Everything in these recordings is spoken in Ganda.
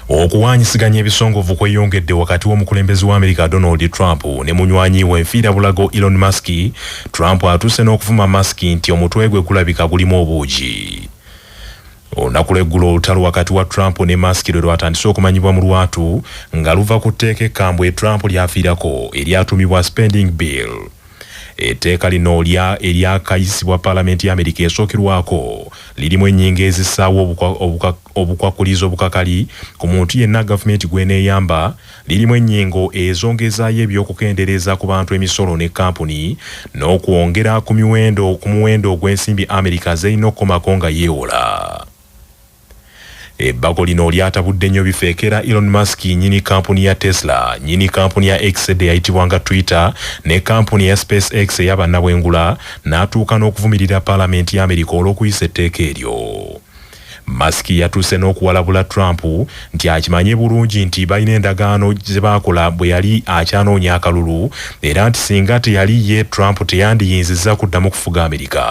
okuwanyisiganya ebisongovu kweyongedde wakati w'omukulembeze wa amerika donald trump ne munywanyi we nfiira bulago elon musk trump atuuse n'okuvuma musk nti omutwe gwe gulabika gulimu obuugi olunaku lweggulo olutalo wakati wa trump ne musk lwe lwatandise okumanyibwa mu lwatu nga luva ku tteeka ekkambwe trump lyafiirako eryatumibwa spending bill etteeka lino lya eryakayisibwa palamenti ya amerika esookerwako lirimu ennyingo ezisaawo obuka Obukwakulizo obukakali ku muntu yenna gavumenti gw'eneeyamba lirimu ennyingo ezongezaayo eby'okukendereeza ku bantu emisolo ne kkampuni n'okwongera ku miwendo ku muwendo ogw'ensimbi Amerika z'erina okukomako nga yeewola. Ebbago lino lyatabudde nnyo bifeekera Elon Musk nnyini kkampuni ya Tesla, nnyini kkampuni ya X edda eyayitibwanga Twitter ne kkampuni eya SpaceX eya bannabwengula n'atuuka n'okuvumirira Palamenti y'Amerika olw'okuyisa etteeka eryo. Musk yatuuse n'okuwalabula Trump nti akimanye bulungi nti balina endagaano ze baakola bwe yali akyanoonya akalulu era nti singa teyali ye, Trump teyandiyinzizza kuddamu kufuga Amerika.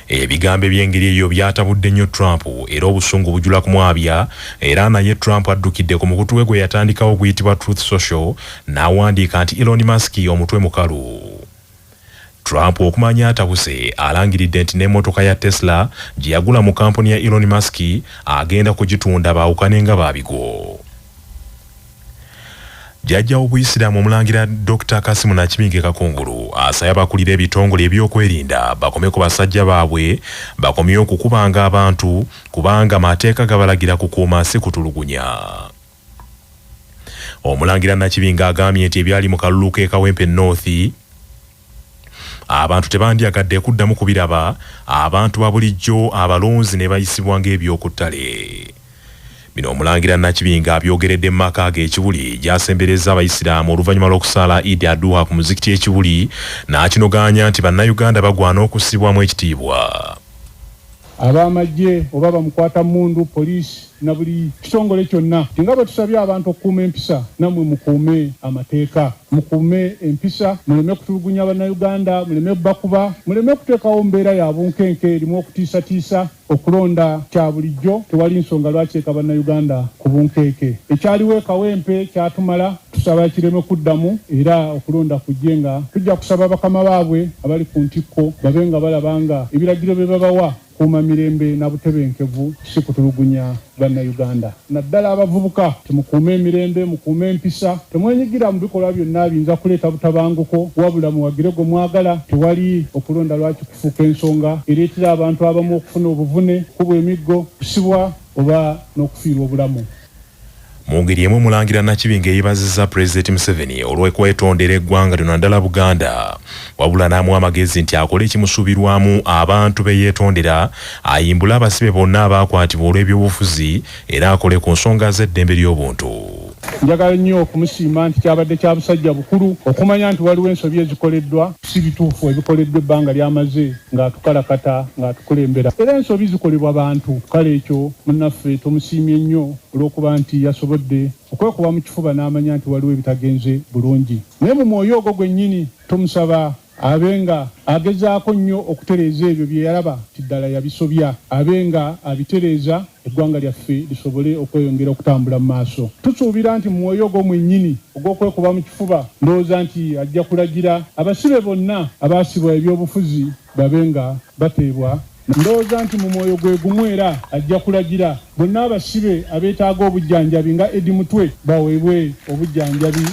Ebigambo eby'engeri eyo byatabudde nnyo Trump era obusungu bujula kumwabya era naye Trump addukidde ku mukutu we gwe yatandikawo oguyitibwa Truth Social n'awandiika nti Elon Musk omutwe mukalu. Trump okumanya atabuse alangiridde nti n'emotoka ya Tesla gye yagula mu kampuni ya Elon Musk agenda kugitunda baawukane nga ba bigo. Jjajja w'obuyisiraamu omulangira Dokita Kasimu Nakibinge Kakungulu asabye abakulira ebitongole ebyokwerinda bakome ku basajja baabwe bakomye okukubanga abantu kubanga mateeka gabalagira kukuuma si kutulugunya. Omulangira Nakibinge agambye nti ebyali mu kalulu k'e Kawempe North abantu tebandyagadde kuddamu kubiraba, abantu babulijjo abalonzi ne bayisibwa ng'eby'oku ttale. Bino Omulangira Nakibinge abyogeredde mu maka ge e Kibuli gy'asemberezza Abayisiraamu oluvannyuma lw'okusaala Eid Aduha ku muzikiti e Kibuli n'akinogaanya nti Bannayuganda bagwana okussibwamu ekitiibwa. ab'amaggye oba bamukwata mmundu, poliisi na buli kitongole kyonna. Nga bwe tusabye abantu okukuuma empisa, nammwe mukuume amateeka, mukuume empisa, muleme kutulugunya Bannayuganda, muleme bakuba, muleme kuteekawo mbeera ya bunkenke erimu okutiisatiisa. Okulonda kya bulijjo, tewali nsonga lwaki eka Bannayuganda ku bunkeeke. Ekyaliwo e Kawempe kyatumala. Tusaba kireme kuddamu era okulonda kujje nga tujja kusaba bakama baabwe abali ku ntikko babe nga balaba nga ebiragiro bye babawa kukuuma mirembe na butebenkevu si kutulugunya Bannayuganda naddala abavubuka nti mukuume emirembe, mukuume empisa, temwenyigira mu bikolwa byonna abiyinza kuleeta butabanguko wabula muwagire gwe mwagala. Tewali okulonda lwaki kufuuka ensonga ereetera abantu abamu okufuna obuvune, okukubwa emiggo, okusibwa oba n'okufiirwa obulamu. Mungeri emu omulangira Nakibinge yebaziza Pulezidenti Museveni olw'okwetondera eggwanga lino naddala Buganda wabula n'amuwa amagezi nti akole ekimusuubirwamu abantu be yeetondera ayimbule abasibe bonna abaakwatibwa olw'ebyobufuzi era akole ku nsonga z'eddembe ly'obuntu. Njagala nnyo okumusiima nti kyabadde kya busajja bukulu okumanya nti waliwo ensobi ezikoleddwa. Si bituufu ebikoleddwa ebbanga ly'amaze ng'atukalakata, ng'atukulembera era ensobi zikolebwa bantu. Kale ekyo munnaffe tumusiimye nnyo olw'okuba nti yasobodde okwekuba mu kifuba n'amanya nti waliwo ebitagenze bulungi. Naye mu mwoyo ogwo gwennyini tumusaba abe nga agezaako nnyo okutereeza ebyo bye yalaba nti ddala yabisobya, abe nga abitereeza. eggwanga lyaffe lisobole okweyongera okutambula mu maaso. Tusuubira nti mu mwoyo ogwo mwennyini ogw'okwekuba mu kifuba, ndowooza nti ajja kulagira abasibe bonna abaasibwa eby'obufuzi babe nga bateebwa, ndowooza nti mu mwoyo gwe gumu era ajja kulagira bonna abasibe abeetaaga obujjanjabi nga Eddie Mutwe baweebwe obujjanjabi.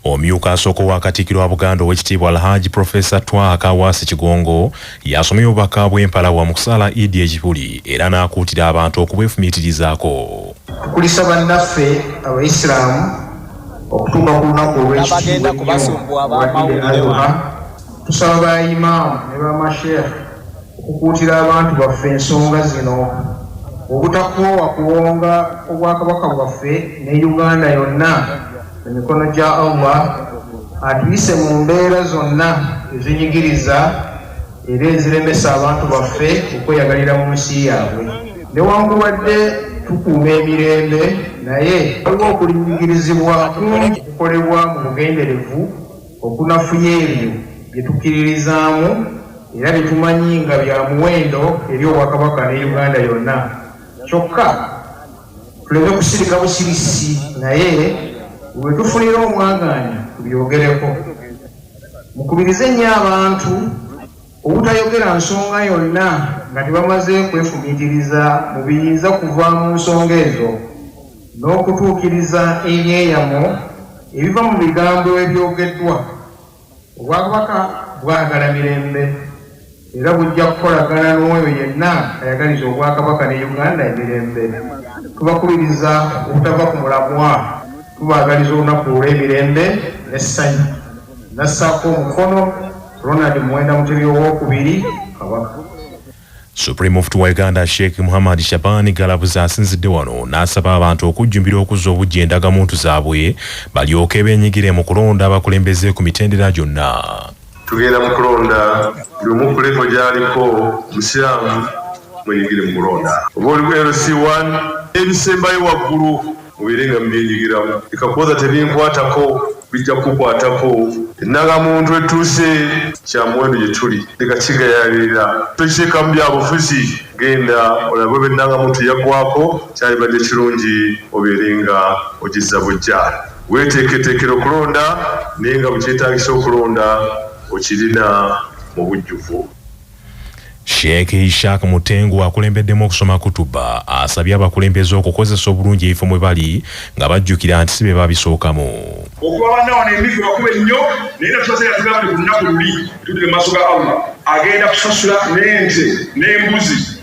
Omyuka asooka owa Katikkiro wa Buganda Oweekitiibwa Alhaji Profesa Twaha Kaawaase Kigongo y'asomye obubaka bw'empalawa mu kusaala Idd e Kibuli era n'akuutira abantu okubwefumiitirizaako. Tukulisa bannaffe Abaisiramu okutuuka ku lunaku olw'ekitiibwa ennyo olwa Idd Adhuha, tusaba ba Imam ne ba Masheikh, Okukuutira abantu baffe ensonga zino obutakoowa kuwonga Obwakabaka bwaffe ne Uganda yonna mu mikono gya Allah atuyise mu mbeera zonna ezinyigiriza era eziremesa abantu baffe okweyagalira mu nsi yaabwe. Newankubadde tukuuma emirembe naye waliwo okulinyigirizibwa kungi okukolebwa mu bugenderevu. Okunafuya ebyo bye tukkiririzaamu era bye tumanyi nga bya muwendo eri Obwakabaka ne Uganda yonna kyokka tuleme kusirika busirisi naye we tufunira omwagaanya tubyogereko. Mukubirize nnyo abantu obutayogera nsonga yonna nga tebamaze kwefumiitiriza mu biyinza kuva mu nsonga ezo. n'okutuukiriza ebyeyamo ebiva mu bigambo ebyogeddwa, Obwakabaka bwagala mirembe era bujja kukolagana n'oyo yenna ayagaliza Obwakabaka ne Uganda emirembe. Tubakubiriza obutava ku mulamwa, tubaagaliza olunaku olw'emirembe n'essanyu. Nassaako omukono Ronald Muwenda Mutebi ow'okubiri, Kabaka. Supreme Mufti wa Uganda Sheikh Muhammad Shabani Galabuza asinzidde wano n'asaba abantu okujjumbira okuzza obuggya endagamuntu zaabwe balyoke beenyigire mu kulonda abakulembeze ku mitendera gyonna. Tugenda mu kulonda buli omu ku levo gy'aliko, Omusiraamu mwenyigire mu kulonda. Oba oli ku LC1 n'ebisembayo waggulu. Mubeere nga mubyenyigiramu. Leka kuwoza tebinkwatako, bijja kukukwatako. Ennangamuntu etuuse, kya muwendo gye tuli. Leka kigayaalirira. Tokiteekamu bya bufuzi. Genda olabe oba ennangamuntu yaggwaako. Kyalibadde kirungi obeere nga ogizza buggya. Weeteeketeekere okulonda, naye nga bwe kyetaagisa okulonda, okirina mu bujjuvu. Sheikh Ishaq Mutengu akulembeddemu okusoma kutuba asabye abakulembeze okukozesa obulungi ebifo mwe bali nga bajjukira nti si be babisookamu. Okuba banna wano emiggo bakube nnyo naye nga tusaze nga tugambye ku lunaku luli tuddire mu maaso ga Allah agenda kusasula n'ente n'embuzi.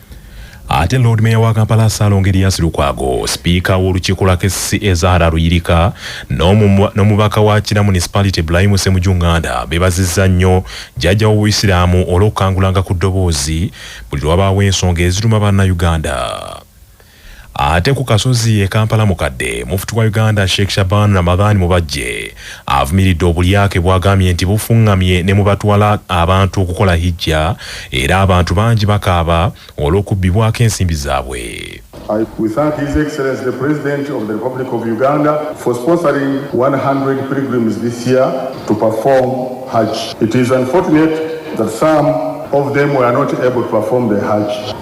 Ate Lord Mayor wa Kampala Salongo Erias Lukwago, Sipiika w'olukiiko lwa KCCA Zahara Luyirika n'omubaka wa Kira Municipality Bulayimu Ssemujju Nganda beebazizza nnyo Jjajja w'Obuyisiraamu olw'okukangulanga ku ddoboozi buli lwe wabaawo ensonga eziruma Bannayuganda. Ate ku Kasozi e Kampala mukadde, Mufti wa Uganda Sheikh Shaban Ramadhan Mubajje avumiridde obulyake bwagambye nti bufungamye ne mu batwala abantu okukola Hijja era abantu bangi bakaaba olw'okubbibwako ensimbi zaabwe. I, we thank His Excellency the President of the Republic of Uganda for sponsoring 100 pilgrims this year to perform Hajj. It is unfortunate that some of them were not able to perform the Hajj.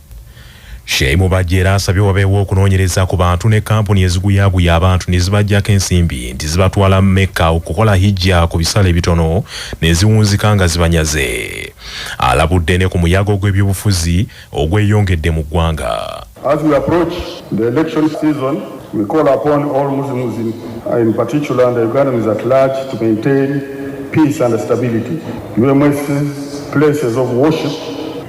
Sheyi Mubajje era asabye wabeewo okunoonyereza ku bantu ne kkampuni eziguyaguya abantu ne zibaggyako ensimbi nti zibatwala Mecca okukola hijja ku bisale ebitono ne ziwunzika nga zibanyaze. Alabudde ne ku muyaga ogw'ebyobufuzi ogweyongedde mu ggwanga. As we approach the election season, we call upon all Muslims in, in particular and Ugandans at large to maintain peace and stability. UMS's places of worship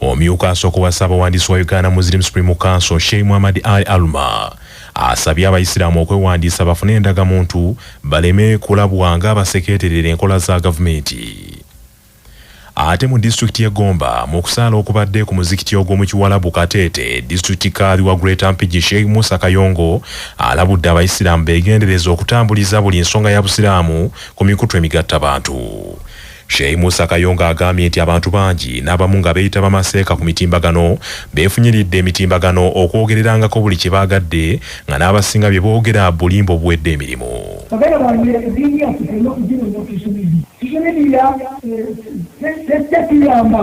Omyuka asooka owa Ssaabawandiisi wa Uganda Muslim Supreme Council Sheikh Muhammad Ali Aluma asabye abayisiraamu okwewandiisa bafune endagamuntu baleme kulabwa ng'abasekeeterera enkola za gavumenti. Ate mu disitulikiti y'e Gomba mu kusaala okubadde ku muzikiti ogw'omu Kiwalabu Kateete, disitulikiti kaadhi wa Greater Mpigi Sheikh Musa Kayongo alabudde abayisiraamu beegendereze okutambuliza buli nsonga ya Busiraamu ku mikutu emigattabantu. Sheikh Musa Kayonga agambye nti abantu bangi n'abamu nga beeyita bamaseeka ku mitimbagano beefunyiridde emitimbagano okwogererangako buli kye baagadde nga n'abasinga bye boogera bulimba obuwedde emirimu. Baganda bange eddiini yaffe tulina okugironda ku ssomero. Ssomero lya, eh, tejja tuyamba.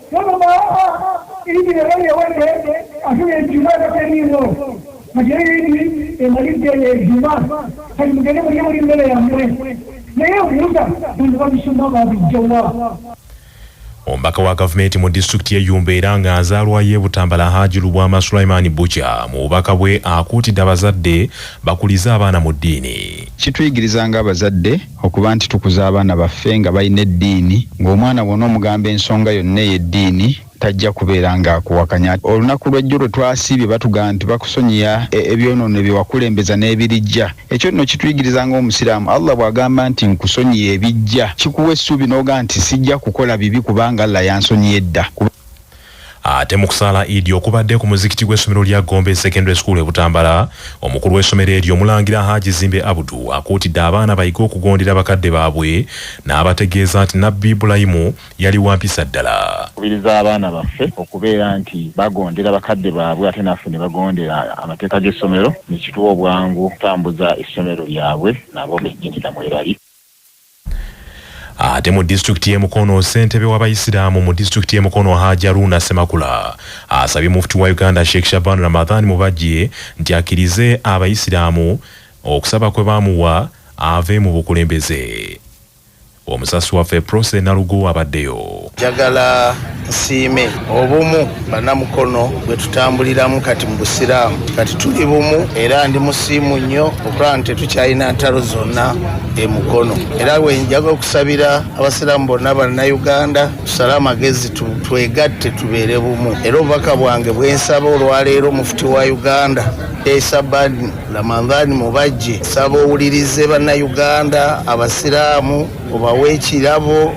Wano baaba idi leero yewedde afuna ejjuma tateriiwo kati eyo idi emalidde eyo ejjuma kati mugende mulye muli mmere yammwe naye obuuza bantu babisoma babijjawa Omubaka wa gavumenti mu disitulikiti y'e Yumbe era nga nzaalwa y'e Butambala Haji Lubwama Sulaiman Bukya mu bubaka bwe akuutidde abazadde bakulize abaana mu ddiini. Kituyigiriza ng'abazadde Okuba nti tukuza abaana baffe nga balina eddiini, ng'omwana bw'onoomugamba ensonga yonna ey'eddiini tajja kubeera ng'akuwakanya. Olunaku lw'ejjo lwe twasiibye batugamba nti bakusonyiya ebyonoono bye wakulembeza n'ebirijja. Ekyo nno kituyigiriza ng'Omusiraamu, Allah bw'agamba nti nkusonyiye ebijja, kikuwa essuubi n'ogamba nti sijja kukola bibi kubanga Allah yansonyiye edda. Ate mu kusaala Idi okubadde ku muzikiti gw'essomero lya Gombe Secondary School e Butambala, omukulu w'essomero eryo Omulangira Haji Zimbe Abudu akuutidde abaana bayige okugondera bakadde baabwe n'abategeeza nti Nabbi Ibulayimu yali wa mpisa ddala. Nkubiriza abaana baffe okubeera nti bagondera bakadde baabwe ate naffe ne bagondera amateeka g'essomero ne kituwa obwangu okutambuza essomero lyabwe nabo bennyini na mwebali. Ate mu disitulikiti y'e Mukono, ssentebe w'abayisiraamu mu disitulikiti y'e Mukono Haji Haruna Ssemakula asabye mufti wa Uganda Sheikh Shaban Ramadhan Mubajje nti akkirize abayisiraamu okusaba kwe baamuwa ave mu bukulembeze. Omusasi waffe Prossy Nalugo abaddeyo. Njagala nsiime obumu banamukono bwe tutambuliramu kati mu busiraamu kati tuli bumu era ndi musiimu nnyo okulaba nti tetukyalina ntalo zonna e mukono era we njaga okusabira abasiraamu bonna bannayuganda tusale amagezi twegatte tubeere bumu era obubaka bwange bwensaba olwaleero mufuti wa uganda esabani ramadhani mubajje saba owulirize bannayuganda abasiraamu obawe ekirabo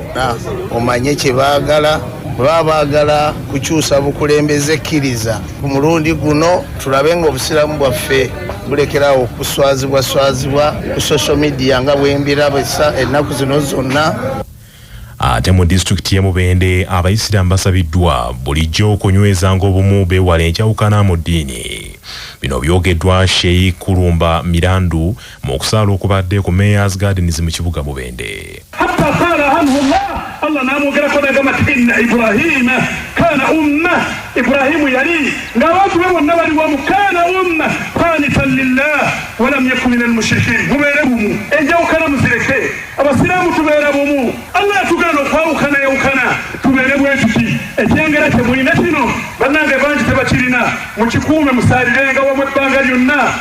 omanye kye baagala baba baagala kukyusa bukulembeze kkiriza ku mulundi guno tulabe nga obusiraamu bwaffe bulekerawo okuswazibwa swazibwa ku social media nga bwembiraba ennaku zino zonna ate mu disitulikiti y'e mubende abayisiraamu basabiddwa bulijjo okunywezanga obumu beewala enkyawukana mu ddiini bino byogeddwa sheik kulumba mirandu mu kusaala okubadde ku Mayors Gardens mu kibuga Mubende. Allah n'amwogerako n'agamba nti inna Ibrahima kaana umma, Ibrahimu yali ng'abantu be bonna bali wamu, kaana umma qaanitan lillah walam yaku min almushrikiin. Mubeere bumu, enjawukana muzireke, Abasiraamu tubeera bumu. Allah yatugaana okwawukana yawukana tubeere bwe tuti ekyengera kye mulina kino bannange bangi tebakirina mukikuume musaalirenga wamu ebbanga lyonna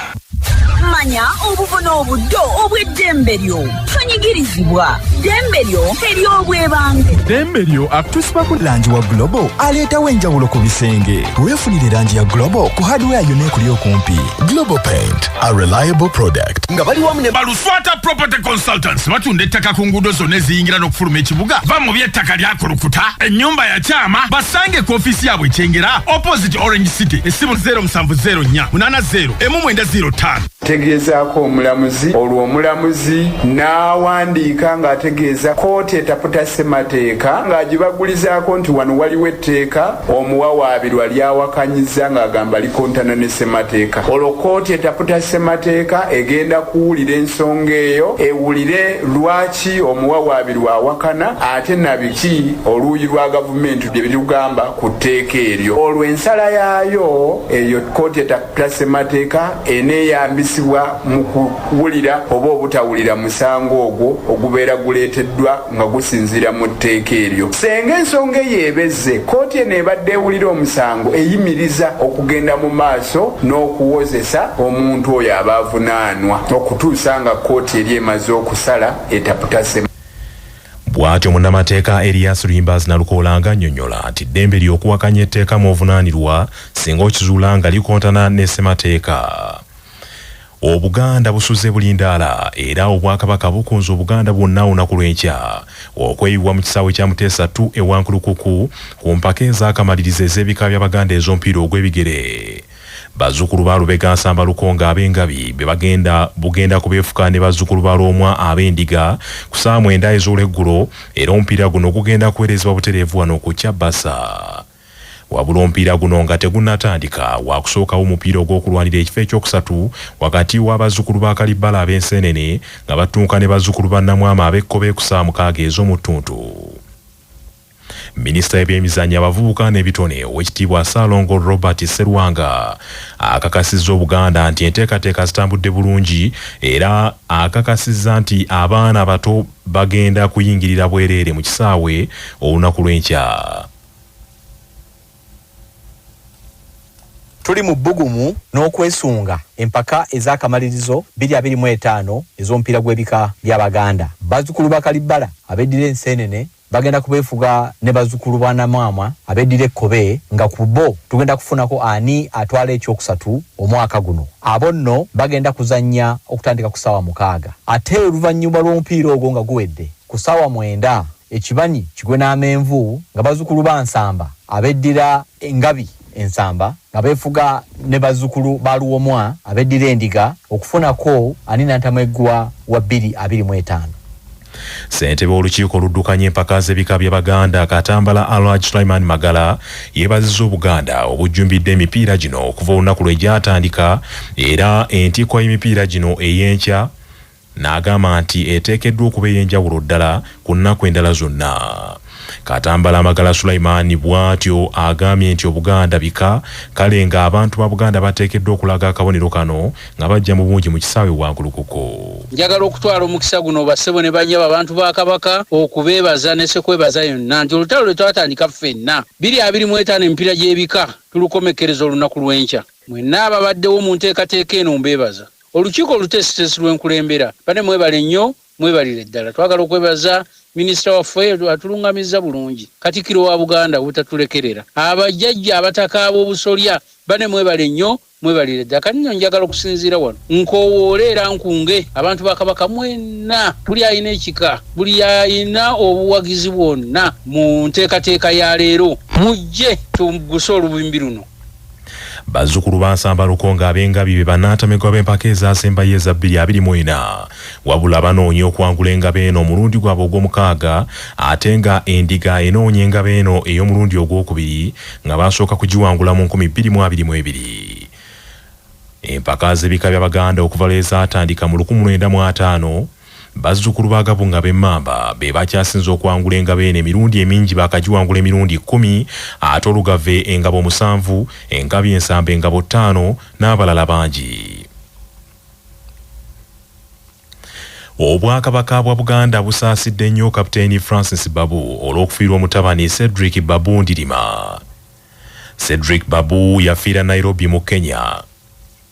manya obubona obuddo obw'eddembe lyo tonyigirizibwa ddembe lyo ery'obwebange ddembe lyo akutusibako langi wa globo aleetawo enjawulo ku bisenge weefunire langi ya globo ku hardware yonna ekuli okumpi globo paint a reliable product nga bali wamu ne balu Fata Property Consultants batunda ettaka ku nguudo zonna eziyingira n'okufuluma ekibuga. Va mu by'ettaka lyakulukuta, ennyumba yakyama, basange ku ofiisi yaabwe ekyengera opposite Orange City, essimu 0704 80 emu mwenda 05. tegeezaako omulamuzi olwo omulamuzi n'awandiika ng'ategeeza kkooti etaputa ssemateeka ng'agibagulizaako nti wano waliwo etteeka omuwawaabirwa ly'awakanyiza ng'agamba kontana ne ssemateeka olwo kkooti etaputa ssemateeka egenda kuwulira ensonga eyo ewulire lwaki omuwawaabirwa awakana ate nabiki oluuyi lwa gavumenti bye birugamba ku tteeka eryo olwo ensala yaayo eyo kkooti etaputa ssemateeka eneeyambisibwa mu kuwulira oba obutawulira musango ogwo ogubeera guleeteddwa nga gusinziira mu tteeka eryo. Senga ensonga eyo ebezze, kkooti eno ebadde ewulira omusango eyimiriza okugenda mu maaso n'okuwozesa omuntu oyo aba avunaanwa okutuusa nga kkooti eri emaze okusala etaputa Ssemwanga. Bwatyo munnamateeka Erias Luyimbaazi Nalukoola nga annyonnyola nti ddembe lyo okuwakanya etteeka mw'ovunaanirwa singa okizuula nga likontana ne Ssemateeka. Obuganda busuze bulindaala era Obwakabaka bukunze Obuganda bwonna olunaku lw'enkya okweyiwa mu kisaawe kya Muteesa ii e Wankulukuku ku mpaka ez'akamalirizo ez'ebika by'Abaganda ez'omupiira ogw'ebigere. Bazzukulu ba Lubega Nsamba Lukonge Abengabi be bagenda bugenda kubeefuka ne bazzukulu ba Lwomwa Abendiga ku ssaawa mwenda ez'olweggulo era omupiira guno gugenda kuweerezebwa butereevu wano ku Kyabasa. Wabula omupiira guno nga tegunnatandika, waakusookawo omupiira ogw'okulwanira ekifo ekyokusatu wakati w'abazzukulu ba Kalibbala ab'enseenene nga battunka ne bazzukulu ba Namwama ab'ekkobe eku ssaawa mukaaga ez'omu ttuntu. Minisita w'ebyemizannyo, abavubuka n'ebitone, Oweekitiibwa Ssaalongo Robert Sserwanga akakasizza Obuganda nti enteekateeka zitambudde bulungi era akakasizza nti abaana abato bagenda kuyingirira bwereere mu kisaawe olunaku lw'enkya. Tuli mu bbugumu n'okwesunga empaka ez'akamalirizo bbiri abiri mu etaano ez'omupiira gw'ebika bya Baganda. Bazzukulu ba Kalibbala abeddira Enseenene bagenda kubeefuga ne bazzukulu ba Namwamwa abeddira Ekkobe nga ku bo tugenda kufunako ani atwala ekyokusatu omwaka guno. Abo nno bagenda kuzannya okutandika ku ssaawa mukaaga ate oluvannyuma lw'omupiira ogwo nga guwedde ku ssaawa mwenda ekibanyi kigwe n'amenvu nga bazzukulu ba Nsamba abeddira Engabi e Nsamba nga beefuga ne bazzukulu ba Luwomwa abeddira Endiga okufunako ani nantameggwa wa bbiri abiri mu etaano. Ssentebe w'olukiiko oluddukanya empaka z'ebika bya Baganda Katambala Alhaj Sulaiman Magala yeebazizza Obuganda obujjumbidde emipiira gino okuva olunaku lwe gyatandika era entikko y'emipiira gino ey'enkya n'agamba nti eteekeddwa okuba ey'enjawulo ddala ku nnaku endala zonna. Katambala Magala Sulaiman bwatyo agambye nti Obuganda bika kale nga abantu ba Buganda bateekeddwa okulaga akabonero kano nga bajja mu bungi mu kisaawe e Wankulukuku. Njagala okutwala omukisa guno bassebo ne bannyabo abantu ba Kabaka okubeebaza ne Ssekwebaza yonna nti olutalo lwe twatandika ffenna bbiri abiri mu etaano emipiira gy'ebika tulukomekkereza olunaku lw'enkya. Mwenna ababaddewo mu nteekateeka eno mbeebaza. Olukiiko oluteesiteesi lwe nkulembera. Bane mwebale nnyo, mwebalire ddala. Twagala okwebaza Minisita waffe atulungamizza bulungi, Katikkiro wa Buganda obutatulekerera. Abajjajja Abataka ab'Obusolya, bane mwebale nnyo, mwebalire ddala. Kati nno njagala okusinziira wano nkoowoole era nkunge abantu ba Kabaka mwenna, buli alina ekika, buli alina obuwagizi bwonna mu nteekateeka ya leero, mujje tugguse olubimbi luno. Bazzukulu ba Nsamba Lukonge ab'Engabi be bannantamegwa b'empaka ezaasembayo eza bbiri abiri mu ena. Wabula banoonya okwangula Engabo eno omulundi gwabwe ogw'omukaaga ate nga Endiga enoonya Engabo eno ey'omulundi ogw'okubiri nga baasooka kugiwangula mu nkumi bbiri mu abiri mu ebiri. Empaka z'ebika by'Abaganda okuva lwe zaatandika mu lukumu lwenda mu ataano, Bazzukulu ba Gabunga b'Emmamba be bakyasinze okwangula engabo eno emirundi emingi baakagiwangula emirundi kkumi ate Olugave engabo musanvu, Engabi Ensamba engabo ttaano n'abalala bangi. Obwakabaka bwa Buganda busaasidde nnyo Kapiteeni Francis Babu olw'okufiirwa omutabani Cedric Babu Ndirima. Cedric Babu yafiira Nairobi mu Kenya.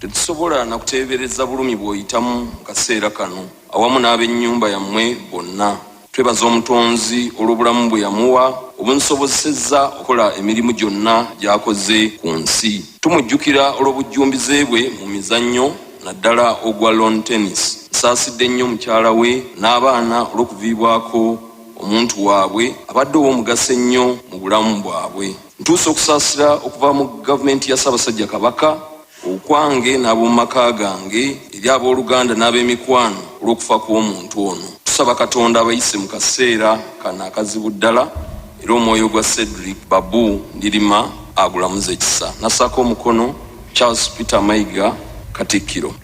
Tetusobola na kuteebereza bulumi bw'oyitamu mu kaseera kano awamu n'ab'ennyumba yammwe bonna. Twebaza Omutonzi olw'obulamu bwe yamuwa obumusobozesezza okukola emirimu gyonna gy'akoze ku nsi. Tumujjukira olw'obujjumbize bwe mu mizannyo naddala ogwa Lawn Tennis. Nsaasidde nnyo mukyala we n'abaana olw'okuviibwako omuntu waabwe abadde ow'omugaso ennyo mu bulamu bwabwe. Ntuusa okusaasira okuva mu Gavumenti ya Ssaabasajja Kabaka, okwange n'ab'omu maka gange, eri ab'oluganda n'ab'emikwano olw'okufa kw'omuntu ono. Tusaba Katonda abayise mu kaseera kano akazibu ddala era omwoyo gwa Cedric Babu Ndilima agulamuze kisa. Nassaako omukono, Charles Peter Mayiga, Katikkiro.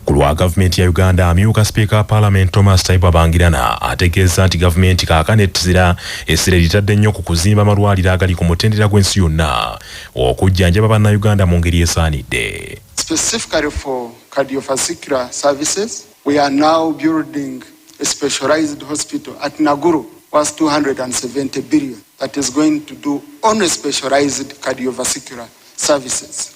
Ku lwa gavumenti ya Uganda, amyuka sipiika wa palamenti Thomas Taibu Abangirana ategeezza nti gavumenti kaakano ettira essira eritadde nnyo ku kuzimba amalwaliro agali ku mutendera gw'ensi yonna okujjanjaba bannayuganda mu ngeri esaanidde. Specifically for cardiovascular services, we are now building a specialized hospital at Naguru worth 270 billion that is going to do only specialized cardiovascular services.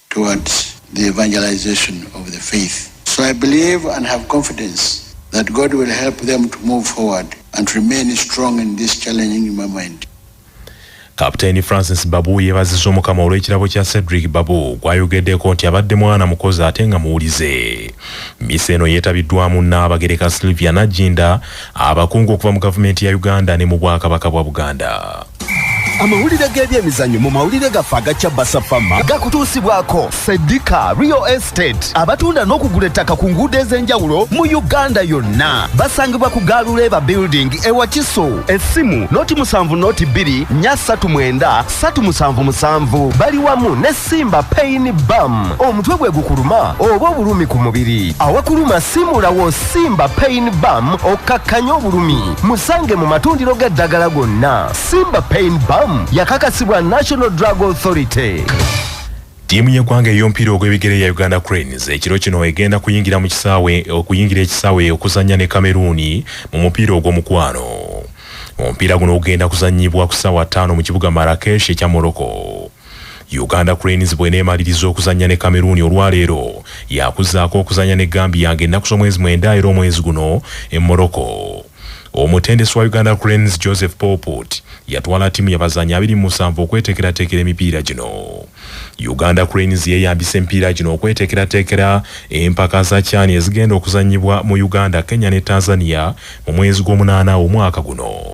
towards the evangelization of the faith. So I believe and have confidence that God will help them to move forward and remain strong in this challenging moment. Kapteeni Francis Babu yebaziza omukama olw'ekirabo kya Cedric Babu gwayogeddeko nti abadde mwana mukozi ate nga muwulize. Misa eno yeetabiddwamu Nnaabagereka Sylvia Nagginda, abakungu okuva mu gavumenti ya Uganda ne mu Bwakabaka bwa Buganda. amawulire g'ebyemizanyo mu mawulire gaffe aga cabasa fama gakutuusibwako sedika real estate abatunda n'okugula ettaka ku nguudo ez'enjawulo mu uganda yonna basangibwa ku gaaluleeba building ewa kiso essimu noti musanvu noti bbiri nya ssatu mwenda ssatu musanvu musanvu bali wamu ne Simba pain bam omutwe gwe gukuluma oba obulumi ku mubiri awakuluma simulawo simba pain bam okkakkanya obulumi musange mu matundiro g'eddagala gonna simba pain bam yakakasibwa national drug authority Tiimu y'eggwanga ey'omupiira ogw'ebigere ya Uganda Cranes ekiro kino egenda kuyingira mu kisaawe okuyingira ekisaawe okuzannya ne Kameruuni mu mupiira ogw'omukwano. Omupiira guno ogenda kuzannyibwa ku ssaawa ttaano mu kibuga Marrakesh ekya Morocco. Uganda Cranes bw'eneemaliriza okuzannya ne Kameruuni olwaleero, yaakuzzaako okuzannya ne Gambia ng'ennaku z'omwezi mwenda era omwezi guno e Morocco. Omutendesi wa Uganda Cranes, Joseph Pauput yatwala ttiimu y'abazannyi abiri mu musanvu okweteekerateekera emipiira gino. Uganda Cranes yeeyambisa emipiira gino okweteekerateekera empaka za CHAN ezigenda okuzannyibwa mu Uganda, Kenya ne Tanzania mu mwezi gw'omunaana omwaka guno.